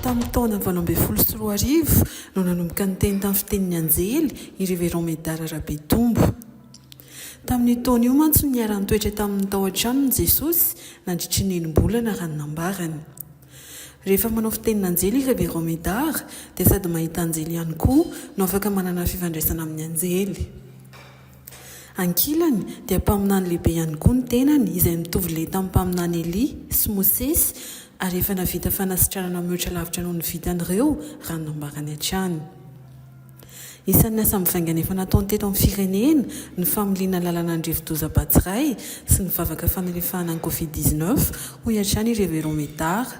Tamin'ny taona valo ambin'ny folo sy roa arivo no nanomboka niteny tamin'ny fitenin'ny anjely i Révérend Médard Rabetombo. Tamin'io taona io mantsy no niara-nitoetra taminy tao an-tranony Jesosy nandritry ny enim-bolana raha ny nambarany. Rehefa manao fitenin'anjely i Révérend Médard dia sady mahita anjely ihany koa no afaka manana fifandraisana amin'ny anjely. Ankilany, dia mpaminany lehibe ihany koa ny tenany, izay mitovy leha tamin'ny mpaminany Elia sy Mosesy, ary efa nahavita fanasitranana mihoatra lavitra noho ny vitan'ireo, raha ny nambarany hatrany. Isan'ny asa mivaingana efa nataony teto amin'ny firenena ny familiana lalana ny rivodoza Batsirai sy ny vavaka fanalefahana ny Covid dix-neuf, hoy hatrany i Révérend Médard.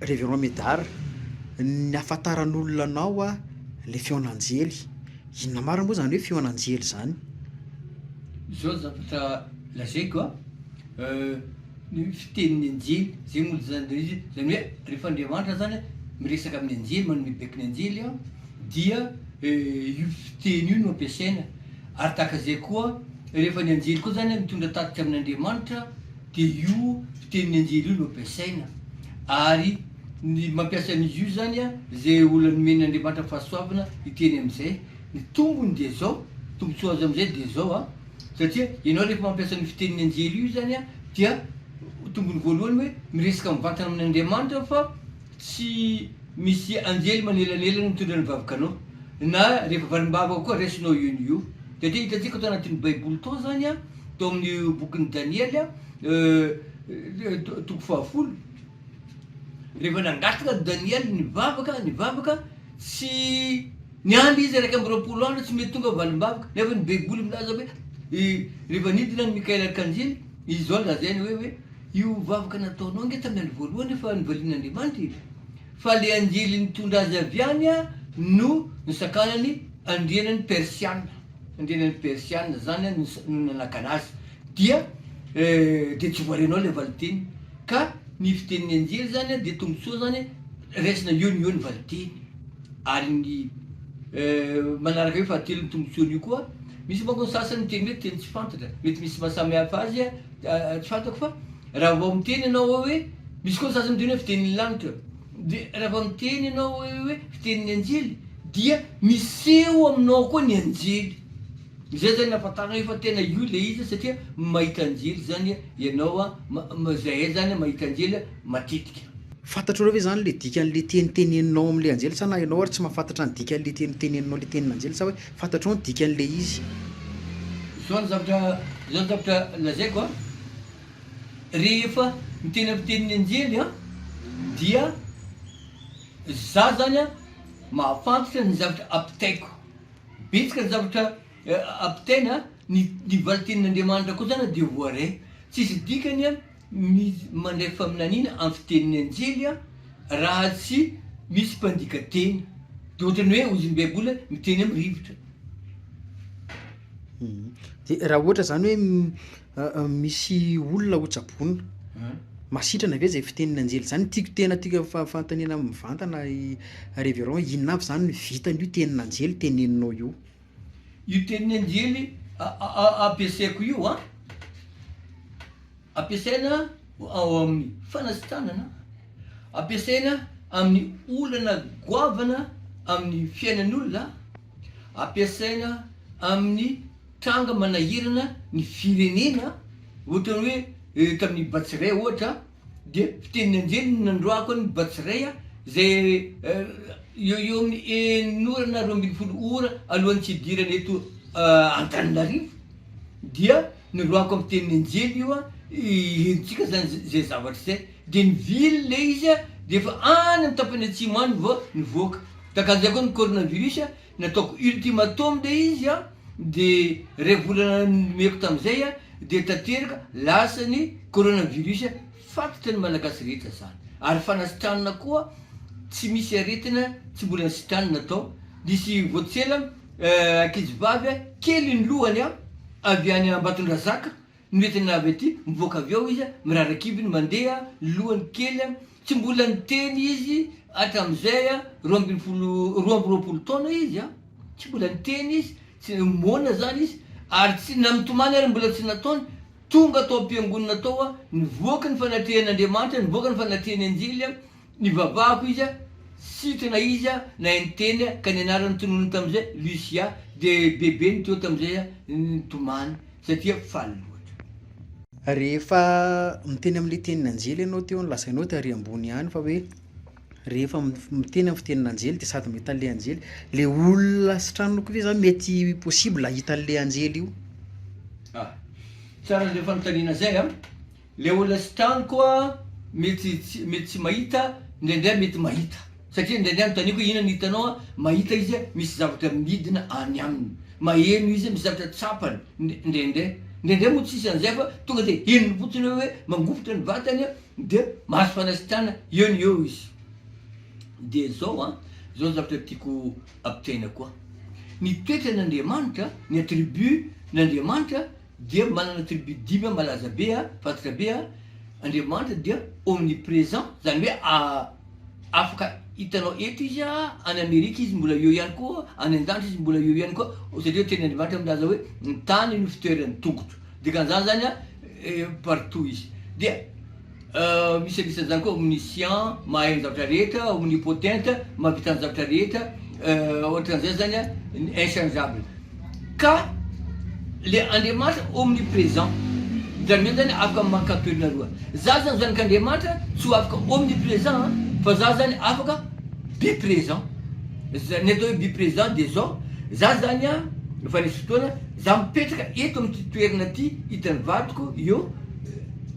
Révérend Médard, ny hafantaran'olona anao a le feon'anjely, inona marina moa zany hoe feon'anjely zany? Zao ny zavatra lazaiko a, ny fitenin'ny anjely zay moa zany de izy zany hoe rehefa Andriamanitra zany miresaka amin'ny anjely manome baiko ny anjely a dia io fiteny io no ampiasaina ary tahaka zay koa rehefa ny anjely koa zany mitondra tatitra amin'Andriamanitra Dia io fitenin'ny anjely io no ampiasaina. Ary ny mampiasa an'izy io izany an, izay olona nomen' Andriamanitra fahasoavana hiteny amin'izay. Ny tombony dia izao, ny tombotsoa azo amin'izay dia izao an, satria ianao rehefa mampiasa an'io fitenin'ny anjely io izany an, dia tombony voalohany hoe miresaka mivantana amin' Andriamanitra fa tsy misy anjely manelanelana mitondra ny vavkanao. Na rehefa valim-bavaka koa raisinao io no io. Satria hitantsika tao anatin'ny baiboly tao izany an, Tao amin'ny bokin'i Daniely, toko fahafolo, rehefa nangataka Daniely nivavaka, nivavaka, tsy niandry izy iraika amby roapolo andro tsy mety tonga valim-bavaka, nefa ny baiboly milaza hoe rehefa nidina an'i Mikaela arkanjely, izy izao no lazainy hoe hoe io vavaka nataonao ange tamin'ny andro voalohany efa nivalian'Andriamanitra e, fa le anjely nitondra azy avy any no nisakanany andrianan'ny Persiana. indrindra ny persiana zany an no nanakana azy dia dia tsy voarenao ilay valiteny ka ny fitenin'ny anjely zany an dia tombotsoa zany raisina eo no eo ny valiteny ary ny manaraka eo fahatelo ny tombotsoan'io koa misy manko ny sasany miteny hoe teny tsy fantatra mety misy mahasamy hafa azy an tsy fantako fa raha vao miteny ianao hoe misy koa ny sasany miteny hoe fitenin'ny lanitra Dia raha vao miteny ianao hoe fitenin'ny anjely dia miseho aminao koa ny anjely. Izay izany ahafantaranao efa tena io ilay izy satria mahita anjely izany ianao an, izahay izany mahita anjely matetika. Fantatrareo ve izany ilay dikan'ilay teny teneninao amin'ilay anjely sa na ianao ary tsy mahafantatra ny dikan'ilay teny teneninao ilay tenin'anjely sa hoe fantatrao ny dikan'ilay izy? Izao ny zavatra, izao ny zavatra lazaiko an. Rehefa ny teny amin'ny tenin'ny anjely dia za zany mahafantatra ny zavatra ampitaiko. Betsaka ny zavatra ampitaina, ny valin-tenin'Andriamanitra koa zany dia voaray. Tsisy dikany ny mandray faminaniana amin'ny fitenin'ny anjely raha tsy misy mpandika teny. Dia ohatran'ny hoe hozy ny Baiboly miteny amin'ny rivotra. Dia raha ohatra zany hoe. Misy olona ho tsaboina. Masitrana ve zay fitenin'ny anjely zany? Tiako tena tiako fa- fanontaniana mivantana révérend hoe inona avy zany ny vitan'io tenin'anjely teneninao io? Io tenin'ny anjely ampiasaiko io an, ampiasaina ao amin'ny fanasitranana, ampiasaina amin'ny olana goavana amin'ny fiainan'olona, ampiasaina amin'ny. Tranga manahirana ny firenena ohatra hoe tamin'ny Batsirai ohatra dia fitenin'ny anjely no nandroahako an'i Batsirai izay eo eo amin'ny enin'ora na roa ambin'ny folo ora alohan'ny tsy hidirany eto Antananarivo dia noroahako amin'ny fitenin'ny anjely io hiherin-tsika izany izay zavatra izay dia nivily ilay izy dia efa any amin'ny tapany atsimo any vao nivoaka, takan'izay koa ny coronavirus Nataoko ultimatum le izy an, de ray volana nomeko tamzay an, de tanteraka lasa ny coronavirus, fatatry ny malagasy rehetra zany, ary fanasitranana koa tsy misy aretina tsy mbola nisitranina tao, nisy vao tsela ankizy vavy an, kely ny lohany an, avy any Ambatondrazaka no entina avy aty, mivoaka avy ao izy an, mirara kibony mandeha an, ny lohany kely an, Tsy mbola niteny izy hatramin'izay a, roa ambin'ny folo, roa amby roapolo taona izy a, tsy mbola niteny izy, tsy, moana zany izy, ary tsy, na mitomany ary mbola tsy nataony, tonga tao am-piangonana tao a, nivoaka ny fanatrehan'Andriamanitra, nivoaka ny fanatrehany anjely a, nivavahako izy a, sitrana izy a, nahay niteny a, ka ny anarany tononiny tamin'izay, Lucia, dia bebe ny teo tamin'izay a, nitomany. satria faly loatra. Rehefa miteny amin'ilay tenin'anjely ianao teo no lazainao dia ary ambony ihany fa hoe rehefa miteny amin'ny fitenin'anjely dia sady mahita an'ilay anjely. Ilay olona sy tranoko ve zany mety possible hahita an'ilay anjely io? Ah, tsara izay fanontaniana izay an! Le olona tsy tano koa mety mety tsy mahita indraindray mety mahita satria indraindray anotaniako hoe inona no hitanao an, mahita izy misy zavatra midina any aminy, maheno izy misy zavatra tsapany indraindray, indraindray moa tsisy an'izay fa tonga de henony fotsiny hoe mangovitra ny vatany de mahazo fanasitranana eo no eo izy, de zao an zao zavatra tiako ampitaina koa, ny toetran'Andriamanitra, ny attribut n'Andriamanitra Dia manana tribu dimy an malaza be an, fantatra be an, Andriamanitra dia omnipresent, zany hoe a afaka hitanao eto izy an, any Amerika izy mbola eo ihany koa, any andanitra izy mbola eo ihany koa, satria teny Andriamanitra milaza hoe ny tany no fitoeran'ny tongotro, dikan'izany zany an partout izy dia. Misadisa zany koa omniscient, mahay ny zavatra rehetra, omnipotent, mahavita ny zavatra rehetra, ohatran'izay zany a, ny inchangeable. Ka le Andriamanitra omnipresent, zany hoe zany afaka mankato toerana roa. Za zany zanak'Andriamanitra tsy ho afaka omnipresent an, fa za zany afaka bipresent. Za- ny atao hoe bipresent de zao, za zany a, efa nisy fotoana, za mipetraka eto amin'ity toerana ty, hitan'ny vadiko eo,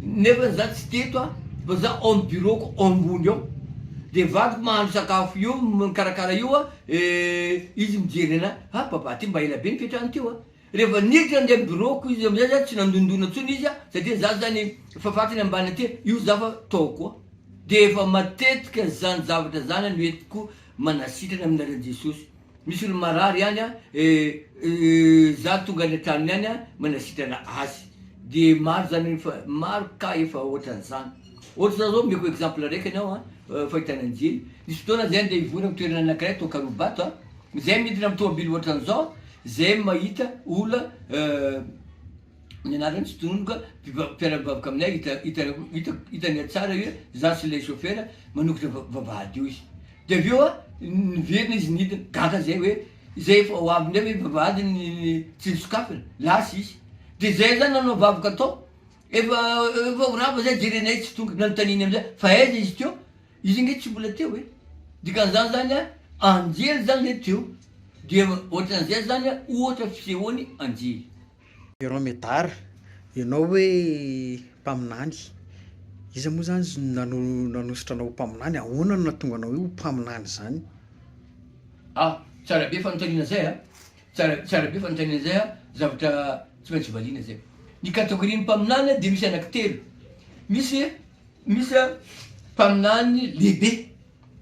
Nefany za tsy teto a, fa za ao am bureau-ko ao ambony ao, de vadiko mahandro sakafo io mikarakara io a, izy mijery anah, ah papa ty mba ela be ny fiatrany teo a, rehefa niditra nande am bureau-ko izy amizay za tsy nandondona tsony izy a, satria za zany fafatiny ambany aty io za fa tao koa, de efa matetika zany zavatra zany no entiko manasitrana aminareo jesosy. Misy olo marary any a, za tonga any an-tranony any a, manasitrana azy, de maro zany hoe efa, maro cas efa ohatran'izany. Ohatra zao, omeko exemple araiky anao a, fahitana an'i Jly, nisy fotoana zay andeha hivory am toerana anakiray tao Karibato a, zay midina am tomobil ohatran'izao, zay mahita olo ny anarany tsy tonony ka mpiara-mivavaka aminay hitany tsara hoe za sy ilay chauffeur manokatra vavahady eo izy de avy eo niverina izy nidina gaga zay hoe zay efa ho avy ndray ve vavahady ny tsy nisokafana lasa izy de zay zany nanao vavaka tao efa efa ho rava zay jerenay tsy tonga nanontaniny amizay fa aiza izy teo izy nge tsy mbola teo e dikan'izany zany a anjely zany zay teo dia ohatran'izay zany ohatra fisehoan'ny anjely Ianao Medard, ianao hoe mpaminany, iza moa izany nanosotra anao ho mpaminany? Ahoana no nahatonga anao ho mpaminany izany? A, Tsara be fanontaniana izay a! Tsara, tsara be fanontaniana izay a! Zavatra tsy maintsy valiana izay. Ny categorie-n'ny mpaminany dia misy anaky telo. Misy, misy a, mpaminany lehibe.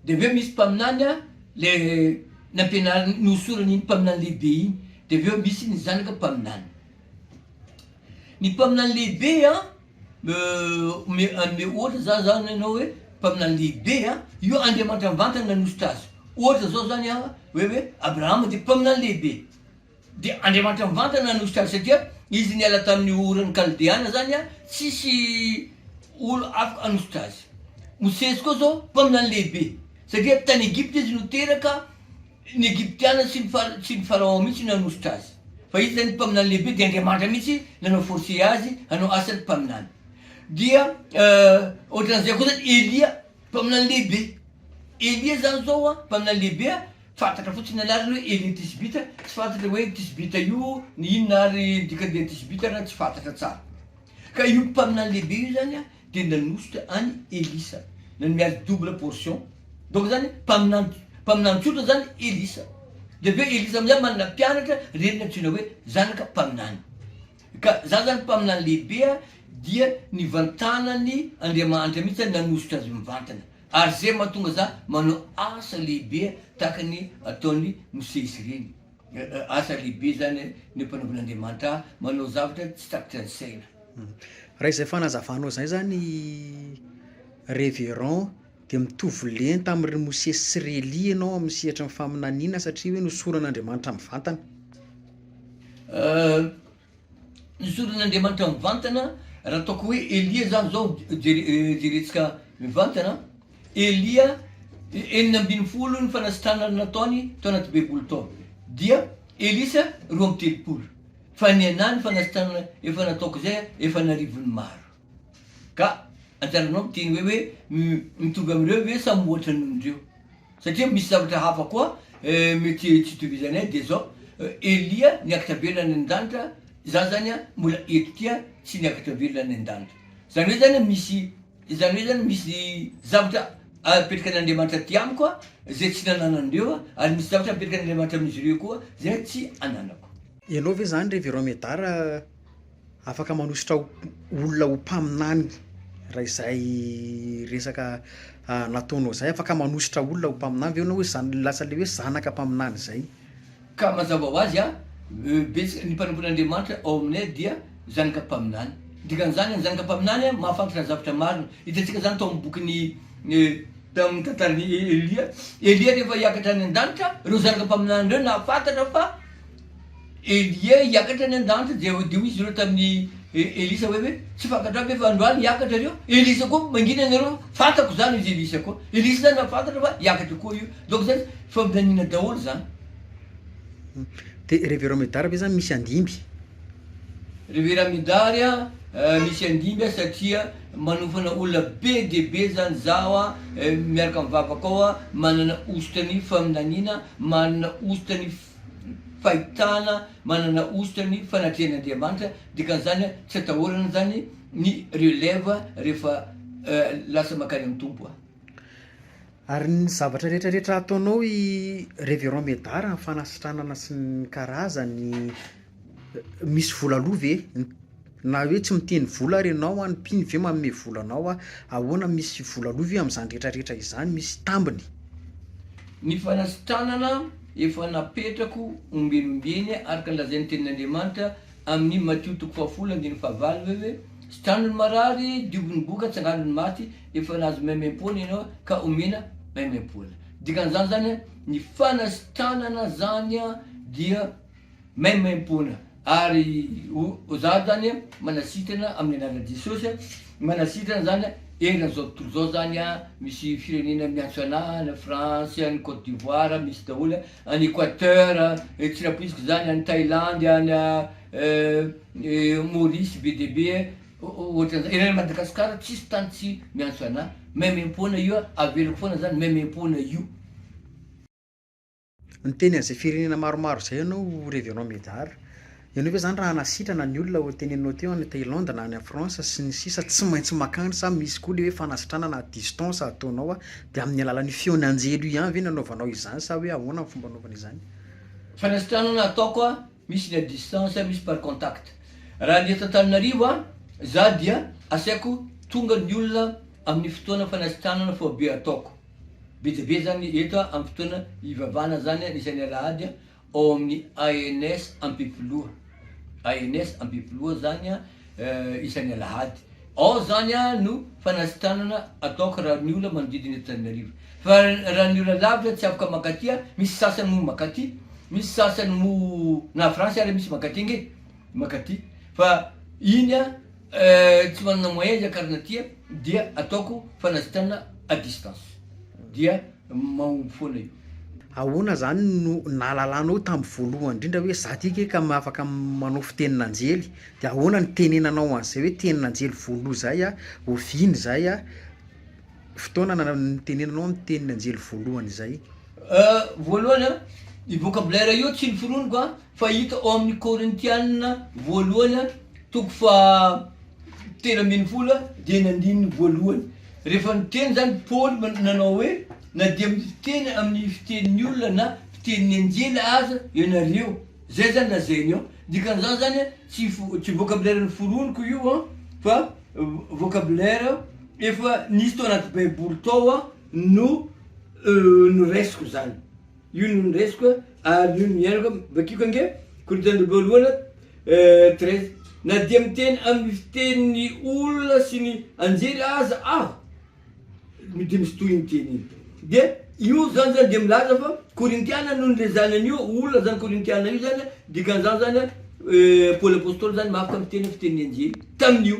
De aveo misy mpaminany a le nampianariny nohosorany iny mpaminany lehibe iny de aveo misy ny zanaka mpaminany ny mpaminany lehibe a ome anome ohatra za zany anao hoe mpaminany lehibe a io andriamanitra mivantana nanosotra azy ohatra zao zany a hoe hoe abrahama de mpaminany lehibe Dia Andriamanitra mivantana no sitraniny satria izy niala tamin'ny oran'ny Kaldeana zany a tsisy olo afaka hanositra azy. Mosesy koa zao mpaminany lehibe satria tany Egypta izy no teraka, ny Egyptiana sy ny fara tsy ny Pharaon mihitsy no nanositra azy fa izy zany mpaminany lehibe dia Andriamanitra mihitsy nanao forcer azy hanao asan'ny mpaminany. Dia ohatran'izay koa zany Elia mpaminany lehibe, Elia zany zao a mpaminany lehibe a, Fantatra fotsiny ny anarany hoe Elie Thisbita, tsy fantatra hoe io Thisbita io ny inona ary ny dikan'Elie Thisbita ary tsy fantatra tsara. Ka io mpaminany lehibe io zany dia nanosika an'i Elisa, nanome azy double portion, donc zany mpaminany mpaminany tsotra zany Elisa, dia avy eo Elisa amizay manana mpianatra reny nantsoina hoe zanaka mpaminany. Ka zany zany mpaminany lehibe dia nivantanany Andriamanitra mihitsy zany nanositra azy mivantana. Ary zay mahatonga za manao asa lehibe tahaka ny ataon'i Mosesy ireny. Asa lehibe zany ny ampanaovin'Andriamanitra ahy manao zavatra tsy takatry ny saina. Raha izay fanazavanao izay zany Révérend dia mitovy lenta amin' ry Mosesy sy ry Elia ianao amin'ny sehatry ny faminaniana satria hoe nosoron'Andriamanitra mivantana. Ny soron'Andriamanitra mivantana, raha ataoko hoe Elia zany zao, jerentsika mivantana, Elia enina ambin'ny folo ny fanasitranana nataony tao anaty baiboly tao, dia Elisa roa amby telopolo, fa ny anah ny fanasitranana efa nataoko zay efa an'arivony maro, ka anjaranao miteny hoe hoe mitovy amin'ireo ve sa mihoatra noho ireo? Satria misy zavatra hafa koa mety tsy itovizanay dia zao, Elia niakatra velona any an-danitra, za zany mbola eto ty tsy niakatra velona any an-danitra. Zany hoe zany misy zany hoe zany misy zavatra apetrakan'Andriamanitra aty amiko zay tsy nananan'ireo ary misy zavatra apetrakan'Andriamanitra amin'izy ireo koa zay tsy ananako. Ianao ve zany Révérend Médard? Afaka manosotra olona ho mpaminany raha izay resaka nataonao izay, afaka manosotra olona ho mpaminany ve ianao hoe zan- lasa le hoe zanaka mpaminany izay? Ka mazava ho azy an, betsaka ny mpanompon'Andriamanitra ao aminay dia zanaka mpaminany. Ny dikan'izany an, zanaka mpaminany an, mahafantatra zavatra marina. Hitantsika izany tao amin'ny bokin'i, tamin'ny tantaran'i Elia. Elia rehefa hiakatra any an-danitra, ireo zanaka mpaminany ireo nahafantatra fa, Elia hiakatra any an-danitra dia hoy izy ireo tamin'i Elisa hoe, hoe tsy fantatrao ve fa androany hiakatra ireo? Elisa koa, mangina ianareo fa fantako izany hoy izy Elisa koa. Elisa izany nahafantatra fa hiakatra koa io. Donc izany faminaniana daholo izany. Dia Reverend Medard ve izany misy andimby? Reverend Medard a, eh, misy andimby a satria manofana olona be dia be izany zaho a, eh, miaraka amin'ny vavakao a, manana hosotra ny faminaniana, manana hosotra ny fahitana manana hosotra ny fanatrehan'Andriamanitra, dikan'izany tsy atahorana izany ny relève rehefa lasa mankany amin'ny Tompo an. Ary ny zavatra rehetra rehetra ataonao i Révérend Médard amin'ny fanasitranana sy ny karazany Misy vola aloa ve? Na hoe tsy miteny vola ary ianao an, mpino ve manome vola anao an, ahoana misy vola aloa ve amin'izany rehetra rehetra izany? Misy tambiny? Ny fanasitranana efa napetrako ombieny ombieny araka ny lazain'ny tenin'Andriamanitra amin'ny Matio toko fahafolo andininy fahavalo hoe hoe, Sitrano ny marary, diovy ny boka, tsangano ny maty, efa nahazo maimaimpoana ianao ka omena maimaimpoana. Dikan'izany zany an, ny fanasitranana zany an dia. maimaimpoana ary za zany manasitrana amin'ny anaran'i Jesosy manasitrana zany eran'izao tontolo izao zany an, misy firenena miantso anahy any France, any Cote d'Ivoire, misy daholo an, any Equateur, tsy nampoiziko zany, any Thailandy, any Maurice be dia be e, ohatran'izay, eran'i Madagasikara tsisy tany tsy miantso anahy, maimaimpoana io an, averiko foana zany maimaimpoana io. Niteny an'izay firenena maromaro izay ianao Révérend Médard. Ianao ve zany raha hanasitrana ny olona ho teneninao teo any Thaïlande na any en France sy ny sisa tsy maintsy makany sa misy koa le hoe fanasitranana à distance ataonao de amin'ny alalan'io feon'anjely io ihany ve no anaovanao izany sa hoe ahoana ny fomba anaovana izany? Fanasitranana ataoko a, misy ny à distance, misy par contact. Raha ny eto Antananarivo a, za dia asaiko tonga ny olona amin'ny fotoana fanasitranana foibe ataoko. Betabe zany eto am fotoana ivavahana zany ny isan'ny alahady ao amin'ny ANS Ampefiloha. ANS Ampefiloha zany isan'ny alahady. Ao zany no fanasitranana ataoko raha ny ola manodidina eto Tananarivo. Fa raha ny ola lavitra tsy afaka makaty a, misy sasany moa makaty, misy sasany moa na France ary misy makaty ange, makaty fa iny a. Tsy manana moyen izy akarina aty a, dia ataoko fanasitranana à distance, dia mahomby foana io. Ahoana zany no nahalalanao tam voalohany indrindra hoe za ty kay ka afaka manao fitenin'anjely? De ahoana no nitenenanao an'izay hoe tenin'anjely voaloha zay a, oviana izay a, fotoana na- nitenenanao ny tenin'anjely voalohany izay? Voalohany a, io vocabulaire io tsy noforoniko a. Fahita ao amin'ny Korintiana voalohany toko faha telo ambin'ny folo dia ny andininy voalohany. Rehefa niteny izany Paoly nanao hoe, Na dia miteny amin'ny fitenin'ny olona na fitenin'ny anjely aza ianareo. Izay izany lazainy ao. Dikan'izany izany tsy tsy vocabulaire noforoniko io an, fa vocabulaire efa nisy tao anaty baiboly tao no noraisiko izany. Io no niraisiko a, ary io no niainako a, vakiko ange, Korintianina voalohany a, treize, Na dia miteny amin'ny fitenin'ny olona sy ny anjely aza aho, dia misy tohiny iny teny iny. Dia io zany zany dia milaza fa Korintiana no nilezahany an'io olona zany Korintiana io zany a, dikan'izany zany a, Paoly apostoly zany mafy tamin'ny fiteny fitenin'ny anjely tamin'io.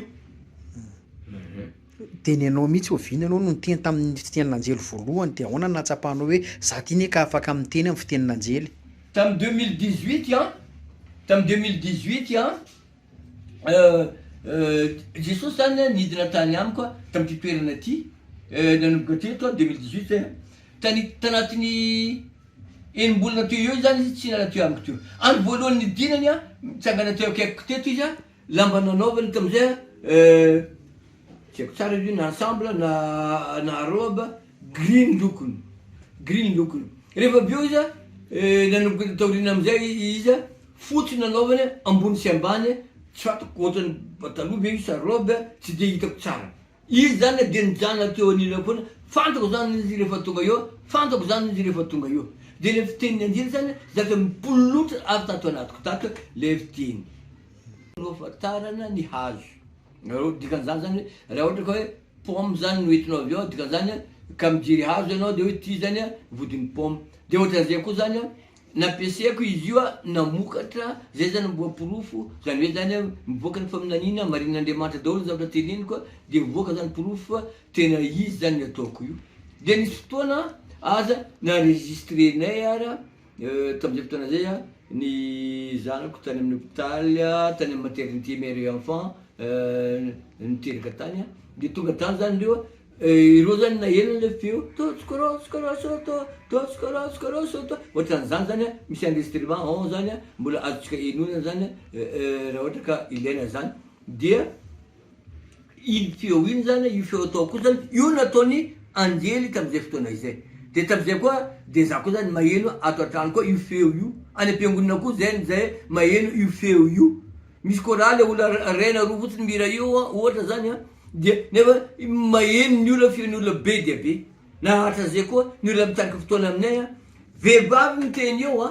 Dia ny anao mihitsy oviana ianao no niteny tamin'ny fitenin'anjely voalohany dia ahoana no nahatsapanao hoe za ty ne ka afaka miteny amin'ny fitenin'anjely? Tamin'ny deux mille dix huit an, tamin'ny deux mille dix huit an, Jesosy zany an nidina tany amiko an tamin'ity toerana ity, nanomboka teto an deux mille dix huit zay an, tany tanatin'ny enimbolana teo eo zany izy tsy niala teo amiko teo, andro voalohany nidinany an, nitsangana teo akaikiko teto izy an, Lamba nanaovany tamin'izay eh, tsy haiko tsara izy io na ensemble na na robe, gris ny lokony, gris ny lokony. Rehefa avy eo izy eh, nanomboka taoriana amin'izay izy, fotsy nanaovany eh, ambony sy ambany eh, tsy fantako ohatran'ny pataloha ve io sa robe eh, tsy dia hitako tsara. Izy zany dia nijanona teo anilany foana, fantako zany izy rehefa tonga eo, fantako zany izy rehefa tonga eo. Dia ilay fitenin'i Anjely zany zavatra mipololotra avy tato anatiko tato ilay fiteny. Nohafantarana ny hazo. Nareo dikan'izany zany hoe raha ohatra ka hoe pomme zany no entinao avy ao, dikan'izany ka mijery hazo ianao dia hoe ity zany vodin'ny pomme. Dia ohatran'izay koa zany Nampiasaiko izy io namokatra zay zany mboa porofo zany hoe zany mivoaka ny faminaniana marin'Andriamanitra daholo ny zavatra teneniko de mivoaka zany porofo fa tena izy zany ny ataoko io de nisy fotoana aza n'enregistrenay ara tam'zay fotoana zay a ny zanako tany amin'ny hopitaly a tany amin'ny maternité mère et enfant niteraka tany a de tonga tany zany reo Ireo izany naheno ilay feo Totsokorotsoko Rosoto, Totsokorotsoko Rosoto, ohatran'izany izany an, misy enregistrement ao izany an, mbola azontsika henoina izany an, raha ohatra ka ilaina izany, dia iny feo iny izany an, io feo atao koa izany, io no ataon'ny anjely tamin'izay fotoana izay, dia tamin'izay koa dia izaho koa izany maheno ato an-trano koa io feo io, any am-piangonana koa izay no izay maheno io feo io, misy chorale olona iray na roa fotsiny mihira io ohatra izany an. Dia nefa maheno ny olona feno olona be dia be. Naratra zay koa ny olona mitarika fotoana aminay a. Vehivavy miteny eo a.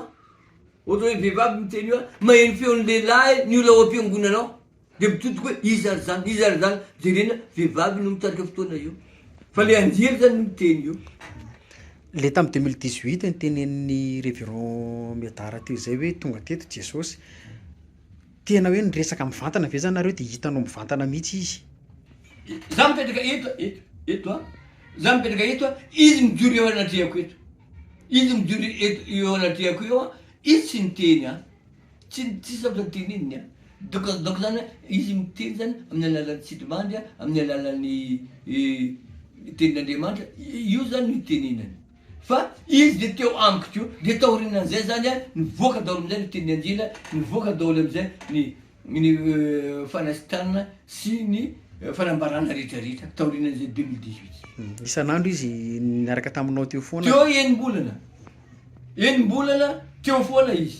Ohatra hoe vehivavy miteny eo a, maheno feon'ny lehilahy ny olona ao am-piangonana ao. Dia mitotoka hoe iza ry zany, iza ry zany. Jerena, vehivavy no mitarika fotoana eo. Fa le anjely zany no miteny eo. Le tamin'ny deux mille dix huit notenenin'ny Révérend Médard teo izay hoe tonga teto Jesosy. Tena hoe niresaka mivantana ve zany nareo de hitanao mivantana mihitsy izy? Za mipetraka eto a, eto, eto a, za mipetraka eto a, izy mijoro eo anatrehako eto, izy mijoro eto eo anatrehako eo a, izy tsy niteny a, tsy tsy zavatra teneniny a, donc donc zany a izy miteny zany amin'ny alalan'ny sidimandry a, amin'ny alalan'ny tenin'Andriamanitra, io zany no itenenany. Fa izy dia teo amiko koa, dia taorianan'izay izany an, nivoaka daholo amin'izay ny teny andila, nivoaka daholo amin'izay ny ny fanasitranana sy ny fanambarana rehetra rehetra taorianan'izay deux mille dix huit. Isan'andro izy niaraka taminao teo foana? Teo enim-bolana, enim-bolana teo foana izy.